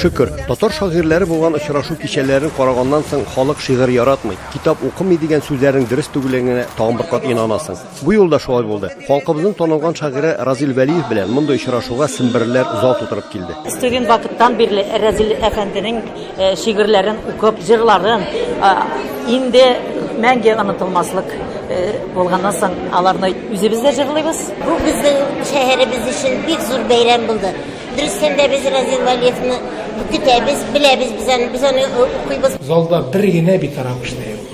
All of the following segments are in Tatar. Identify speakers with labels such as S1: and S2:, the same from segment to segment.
S1: Шөкер, татар шагыйрьләре булган очрашу кичәләрен караганнан соң халык шигырь яратмый, китап укымый дигән сүзләрнең дөрес түгеллегенә тагын бер кат инанасың. Бу юлда шулай булды. Халкыбызның танылган шагыйре Разил Вәлиев белән мондый очрашуга семберлеләр зал тутырып килде. Студент вакыттан
S2: бирле Разил әфәнденең Шигырьләрен укып, җырларын инде мәңге онытылмаслык булганнан соң аларны үзебез дә җырлыйбыз. Бу безнең
S3: шәһәребез өчен бик зур бәйрәм булды. Дөрестән дә без Разил Вәлиевны көтәбез, беләбез без аны, без аны укыйбыз. Залда бер генә
S4: битараф кеше дә юк.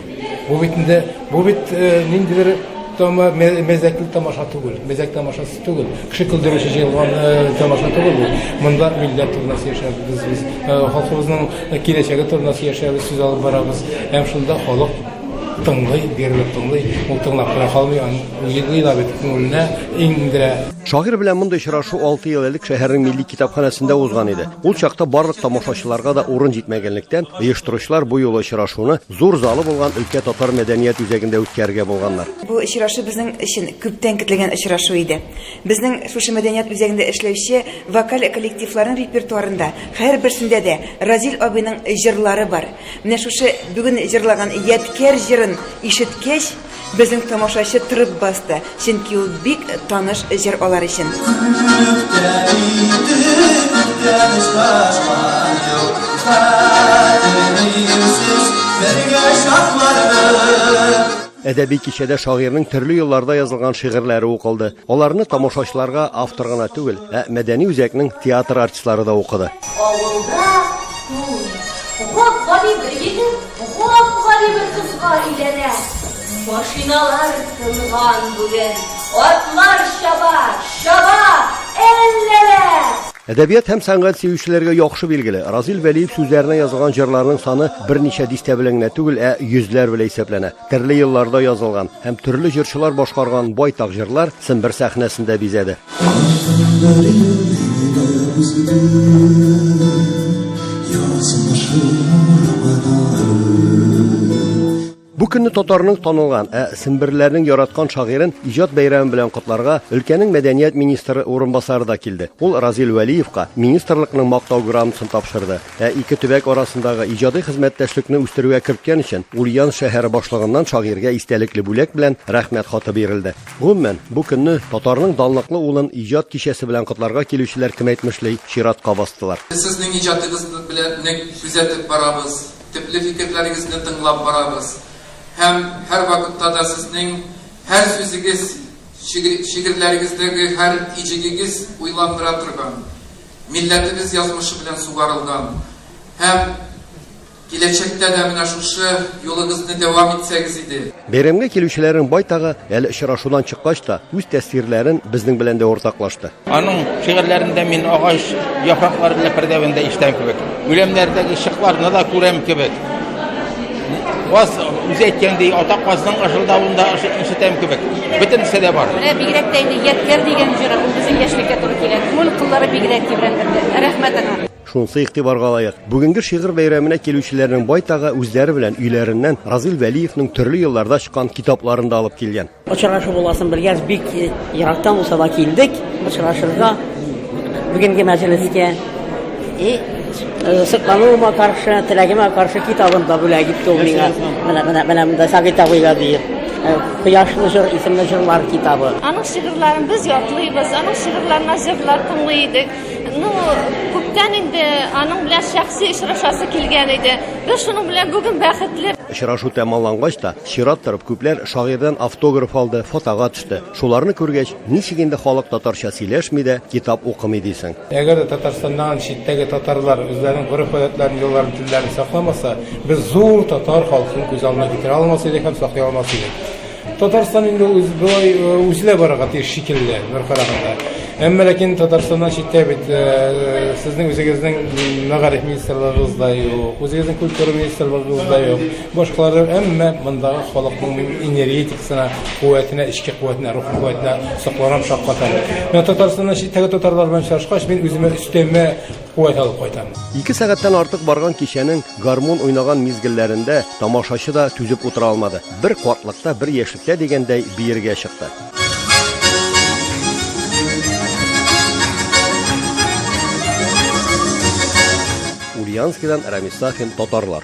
S4: Бу бит инде, бу бит ниндидер тама мәзәкле тамаша түгел, мәзәк тамашасы. Түгел. Кеше көлдерүче җыелган тамаша түгел бу. Монда милләт турында сөйләшәбез без. Халкыбызның киләчәге турында сөйләшәбез, сүз алып барабыз. Һәм шунда халык тыңлый, бирелеп тыңлый. Ул тыңлап кына калмый, аны уйлый да бит, күңеленә иңдерә. Шагыйрь белән мондый
S1: очрашу алты ел элек шәһәрнең милли китапханәсендә узган иде. Ул чакта барлык тамашачыларга да урын җитмәгәнлектән, оештыручылар бу юлы очрашуны Зур залы булган өлкә татар мәдәният үзәгендә үткәрергә булганнар. Бу очрашу безнең
S5: өчен күптән көтелгән очрашу иде. Безнең шушы мәдәният үзәгендә эшләүче вокаль коллективларның репертуарында һәрберсендә дә Разил абыйның җырлары бар. Менә шушы бүген җырлаган Ядкәр җырын ишеткәч, Безнең тамашачы тырып басты, чөнки ул бик таныш җыр алар өчен.
S1: Әдәби кичәдә шагыйрьнең төрле елларда язылган шигырьләре укылды. Аларны тамашачыларга автор гына түгел, ә мәдәни үзәкнең театр артистлары да укыды.
S6: Авылда туй. Гап-гади бер егет Гап-гади бер кызга өйләнә. Машиналар тынган бүген. Атлар чаба, чаба, әлләлә! Әдәбият
S1: һәм сәнгать сөючеләргә яхшы билгеле, Разил Вәлиев сүзләренә язылган җырларның саны берничә дистә белән генә түгел, ә йөзләр белән исәпләнә. Төрле елларда язылган һәм төрле җырчылар башкарган байтак җырлар Сембер сәхнәсендә бизәде. Бу көнне татарның танылган, ә семберләрнең яраткан шагыйрен иҗат бәйрәме белән котларга өлкәнең мәдәният министры урынбасары да килде. Ул Разил Вәлиевка министрлыкның мактау грамотасын тапшырды. Ә ике төбәк арасындагы иҗади хезмәттәшлекне үстерүгә керткән өчен Ульян шәһәре башлыгыннан шагыйрьгә истәлекле бүләк белән Рәхмәт хаты бирелде. Гомумән, бу көнне татарның данлыклы улын иҗат кичәсе белән котларга килүчеләр кеметмешли чиратка бастылар. Без сезнең иҗатыгыз
S7: белән нык күзәтеп барабыз, төпле фикерләрегезне тыңлап барабыз һәм һәрвакытта да сезнең һәр сүзегез, шигырьләрегездәге һәр иҗегегез уйландыра торган, Милләтебез язмышы белән сугарылган һәм киләчәктә дә менә шушы юлыгызны дәвам итсәгез иде. Бәйрәмгә килүчеләрнең
S1: байтагы әле очрашудан чыккач та үз тәэсирләрен безнең белән дә уртаклашты. Аның шигырьләрендә
S8: мин агач яфраклары белән пәрдәвендә ишетәм кебек, үләннәрдәге чыкларны да күрәм кебек. Каз үзе әйткәндәй, ата казның ыжылдавын да ишетәм кебек. Бөтенесе дә бар. Менә бигрәк тә инде Яткәр
S2: дигән җыры, ул безнең яшьлеккә туры килә. Күңел кыллары бигрәк тибрәндерде. Рәхмәт аңа. Шунысы игътибарга
S1: лаек, бүгенге шигырь бәйрәменә килүчеләрнең байтагы үзләре белән өйләреннән Разил Вәлиевның төрле елларда чыккан китапларын да алып килгән. Очрашу буласын белгәч,
S9: бик ерактан булса да килдек очрашырга бүгенге мәҗлескә. И э, соклануыма каршы, теләгемә каршы китабын да бүләк итте ул миңа. Менә менә менә монда Сабит абыйга диеп. Э, Кояшлы җыр исемле җырлар китабы. Аның шигырьләрен
S6: без ятлыйбыз, аның шигырьләренә җырлар тыңлый идек. Ну, күптән инде аның белән шәхси очрашасы килгән иде. Без шуның белән бүген бәхетле. Очрашу тәмамлангач
S1: та, Чират торып, күпләр шагыйрьдән автограф алды, фотога төште. Шуларны күргәч, ничек инде халык татарча сөйләшми дә, китап укымый дисең. Әгәр дә Татарстаннан
S4: читтәге татарлар үзләренең гореф-гадәтләрен, йолаларын, телләрен сакламаса, без зур татар халкын күз алдына китерә алмас идек һәм саклый алмас идек. Татарстан инде үз болай үселә барырга тиеш шикелле, бер караганда. Әмма ләкин Татарстаннан читтә бит сезнең үзегезнең мәгариф министрлыгыгыз да юк, үзегезнең культура министрлыгыгыз да юк. Башкалардан әмма мондагы халыкның энергетикасына, куәтенә, эчке куәтенә, рух куәтенә сокларам шаккатам. Мен Татарстаннан читтәге татарлар белән чаршкач, мин үземә өстәмә куәт алып кайтам. Ике сәгатьтән артык барган кичәнең гармун уйнаган мизгелләрендә тамашачы да түзеп утыра алмады. Бер катлыкта, бер яшьлектә дигәндәй биергә чыкты.
S1: Ульяновскидан Рамис Сафин, Татарлар.